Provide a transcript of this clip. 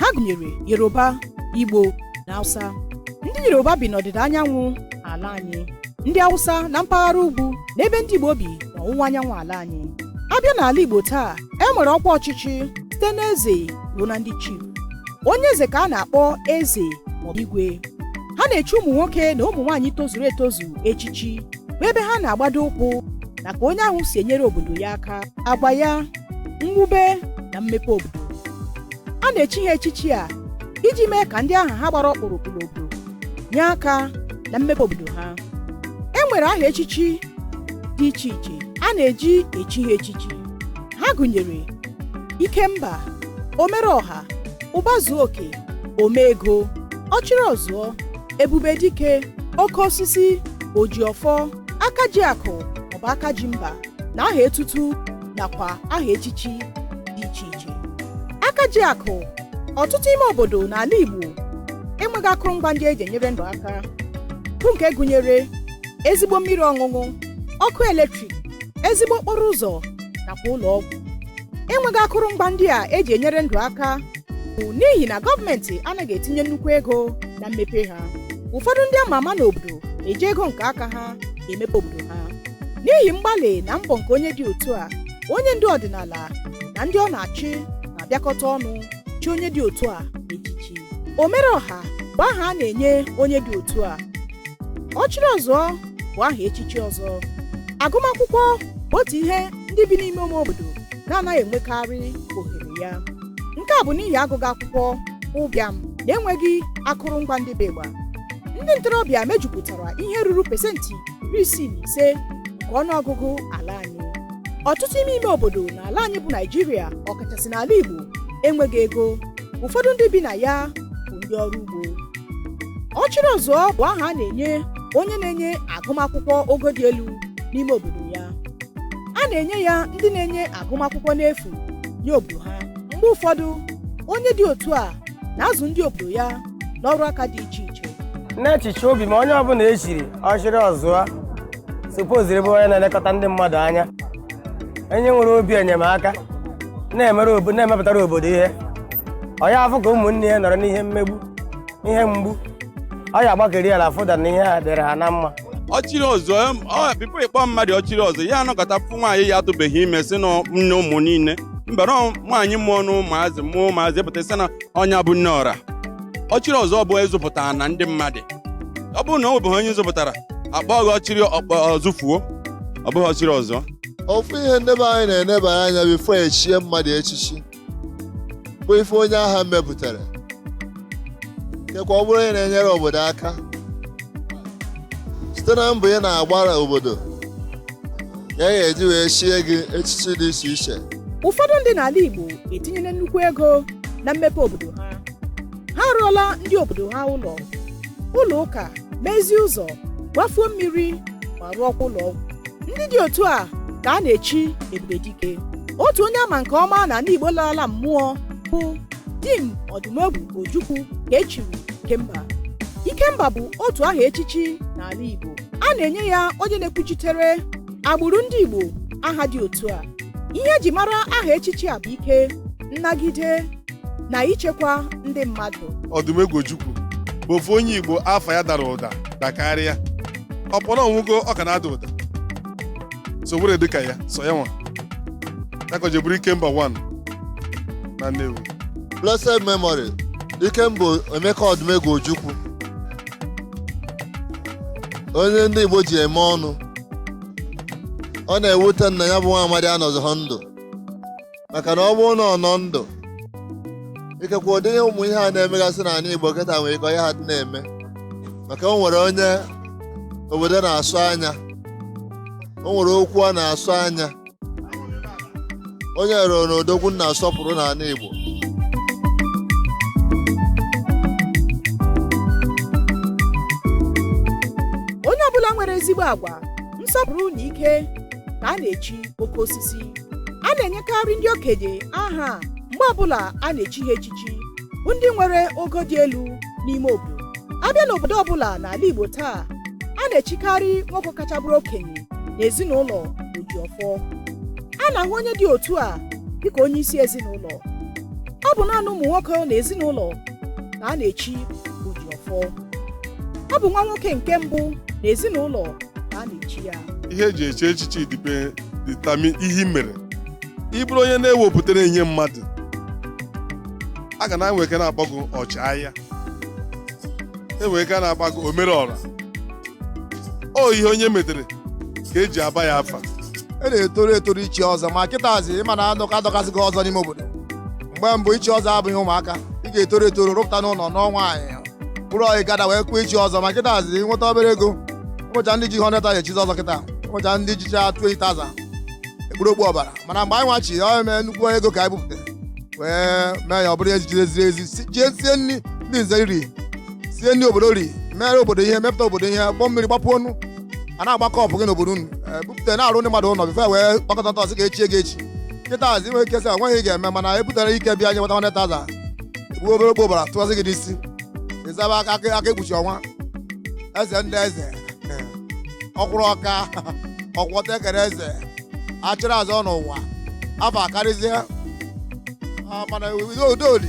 ha gụnyere yoruba igbo na hausa ndị yoruba bi n'ọdịda anyanwụ ala anyị ndị hausa na mpaghara ugwu na ebe ndị igbo bi n'ọwụwa anyanwụ ala anyị a bịa n'ala igbo taa e nwere ọkwa ọchịchị site n'eze ruo na ndị chief onye eze ka a na-akpọ eze maọbụ igwe ha na-echi ụmụ nwoke na ụmụ nwaanyị tozuru etozu echichi bụ ebe ha na-agbado ụkwụ na ka onye ahụ si enyere obodo ya aka agwa ya mwube na mmepe obodo a na-echi ha echichi a iji mee ka ndị aha ha gbara ọkpụrụkpụ n'obodo nye aka na mmepe obodo ha e nwere aha echichi dị iche iche a na-eji echi ha echichi ha gụnyere ikemba omere ọha ụbazuoke omeego ọchịrị ọzụọ ebube dike oke osisi ojiọfọ akaji akụ maọbụ akaji mba na aha etutu nakwa aha echichi dị iche iche aka ji akụ ọtụtụ ime obodo n'ala Igbo enweghị akụrụngwa ndị eji enyere ndụ aka bụ nke gụnyere ezigbo mmiri ọṅụṅụ ọkụ eletrik ezigbo okporo ụzọ nakwa ụlọ ọgwụ enweghị akụrụngwa ndị a eji enyere ndụ aka bụ n'ihi na gọọmenti anaghị etinye nnukwu ego na mmepe ha ụfọdụ ndị ama ama n'obodo eji ego nke aka ha emepe obodo ha n'ihi mgbalị na mbọ nke onye dị otu a onye ndu ọdịnala na ndị ọ na-achị na-abịakọta ọnụ chi onye dị otu a echichi omere ọha bụ aha a na-enye onye dị otu a ọchịrị ọzụọ bụ aha echichi ọzọ agụmakwụkwọ bụ otu ihe ndị bi n'ime ime obodo na-anaghị enwekarị ohere ya nke a bụ n'ihi agụghị akwụkwọ ụbịam na enweghị akụrụngwa ndị bụ ịgba ndị ntorobịa mejupụtara ihe ruru pesenti iri isii na ise nke ọnụọgụgụ ala anyị ọtụtụ ime ime obodo na ala anyị bụ naịjirịa ọkachasị n'ala igbo enweghị ego ụfọdụ ndị bi na ya bụ ndị ọrụ ugbo ọchịrị ọzụọ bụ aha a na-enye onye na-enye agụmakwụkwọ ogo dị elu n'ime obodo ya a na-enye ya ndị na-enye agụmakwụkwọ n'efu nye obodo ha mgbe ụfọdụ onye dị otu a na-azụ ndị obodo ya n'ọrụ aka dị iche iche n'echiche obi m onye ọbụla echiri ọchịrị ọzụọ supoziri bụ onye na-elekọta ndị mmadụ anya onye nwere obi enyemaka na-emepụtara obodo ihe ọ ya afụ ka ụmụnne ya nọrọ n'ihe mmegbu ihe mgbu ọ ya agbakeri ala fụda na ihe dịrị ha na mma ọchịrị ọzụọ em, before ịkpọ mmadụ ọchịrị ọzụọ ya anọkọta fụ nwaanyị ya atụbeghị ime si na nne ụmụ niile mbere nwaanyị mụọ na ụmụazị mụọ ụmụazị pụta sị na onye a bụ nne ọra ọchịrị ọzụọ bụ ị zụpụtara na ndị mmadụ ọ bụrụ na o nwebeghị onye ị zụpụtara akpọọ gị ọchịrị ọzụfuo ọ bụghị ọchịrị ọzụọ ofu ihe ndị be anyị na-enebara anya bifo echie mmadụ echichi bụ ife onye ahụ mepụtara kekwa ọ bụrụ onye na-enyere obodo aka site na mbọ ị na-agbara obodo ya ka eji wee chie gị echichi dị iche iche ụfọdụ ndị n'ala Igbo etinyela nnukwu ego na mmepe obodo ha ha arụọla ndị obodo ha ụlọ ụlọ ụka mezie ụzọ gbafuo mmiri ma rụọkwa ụlọ ọgwụ ndị dị otu a ka a na-echi ebube dike otu onye a ma nke ọma n'ala igbo larala mmụọ bụ dim ọdụmegwu ojukwu ka echiri ikemba ikemba bụ otu aha echichi n'ala igbo a na-enye ya onye na-ekwuchitere agbụrụ ndị igbo aha dị otu a ihe eji mara aha echichi a bụ ike nnagide na ichekwa ndị mmadụ ọdụmegwu ojukwu bụ ofu onye igbo afa ya dara ụda dakarịa ọbụna ọ nwụgo ọ ka na-ada ụda so were dịka ya sọ ya nwa ya ka o ji bụrụ ikemba 1 na nnewi blessed memory ikemba emeka ọdụmegwu ojukwu onye ndị igbo ji eme ọnụ ọ na-ewute m na ya bụ nwa amadi anọzịghị ndụ maka na ọ bụrụ na ọ nọ ndụ ikekwe ụdị ihe ụmụ ihe a na-emegasị n'ala Igbo kịta nwere ike ọ yaha adị na-eme maka o nwere onye obodo na-asọ anya o nwere okwu a na-asọ anya onye ruru na odogwu na-asọpụrụ n'ala Igbo onye ọbụla nwere ezigbo agwa nsọpụrụ na ike ka a na-echi oke osisi a na-enyekarị ndị okenye aha a mgbe ọbụla a na-echi ha echichi bụ ndị nwere ogo dị elu n'ime obodo a bịa n'obodo ọbụla n'ala Igbo taa a na-echikarị nwoke kacha bụrụ okenye n'ezinụlọ Ojiọfọ a na-ahụ onye dị otu a dịka onye isi ezinụlọ ọ bụ naanị ụmụ nwoke na ezinụlọ ka a na-echi Ojiọfọ ọ bụ nwa nwoke nke mbụ na ezinụlọ ka a na-echi ya ihe eji echi echichi determine ihe i mere ị bụrụ onye na-ewepụtara enye mmadụ a ga na-enwe ike na-akpọ gị ọchịagha enwe ike na-akpọ gị omere ọra ọ ihe onye metere ka eji aba ya afa a na-etoru etoru ichi ọzọ ma kịtazi ị ma na adọka adọkasịgo ọzọ n'ime obodo mgbe mbụ ichi ọzọ abụghị ụmụaka ị ga-etoru etoru rụpụta n'ụlọ nụọ nwaanyị bụrụ ọyị gada wee kwuo ichi ọzọ ma kịtazị ị nweta obere ego ọ bụcha ndị ji 100,000 echizi ọzọ kịta ọ bụcha ndị jicha 20,000 ekpuru okpu ọbara mana mgbe anyị nwa chi ọ eme nnukwu ego ka anyị bupụta wee mee ya ọ bụrụ echichi eziri ezi si- jee sie nri ndị nze ri sie nri obodo ri mere obodo ihe mepụta obodo ihe gbuo mmiri gbapụ ọnụ a na-agba cup gị n'obodo unu ee, bupụta na-arụ ndị mmadụ ụlọ before e wee kpakọta ntọsị ga-echi gị echi kịtazị i nwere ike sị o nweghị ị ga-eme mana e butere ike bịa nye nweta 100,000 egbuo obere okpu ọbara tụkwasị gị n'isi ị zaba aka aka aka ekpuchi ọnwa eze ndị eze okwuru ọka ọkwọta ekere eze ọchịrị ọzụọ n'ụwa afa akarịzie Ah, mana udo udo dị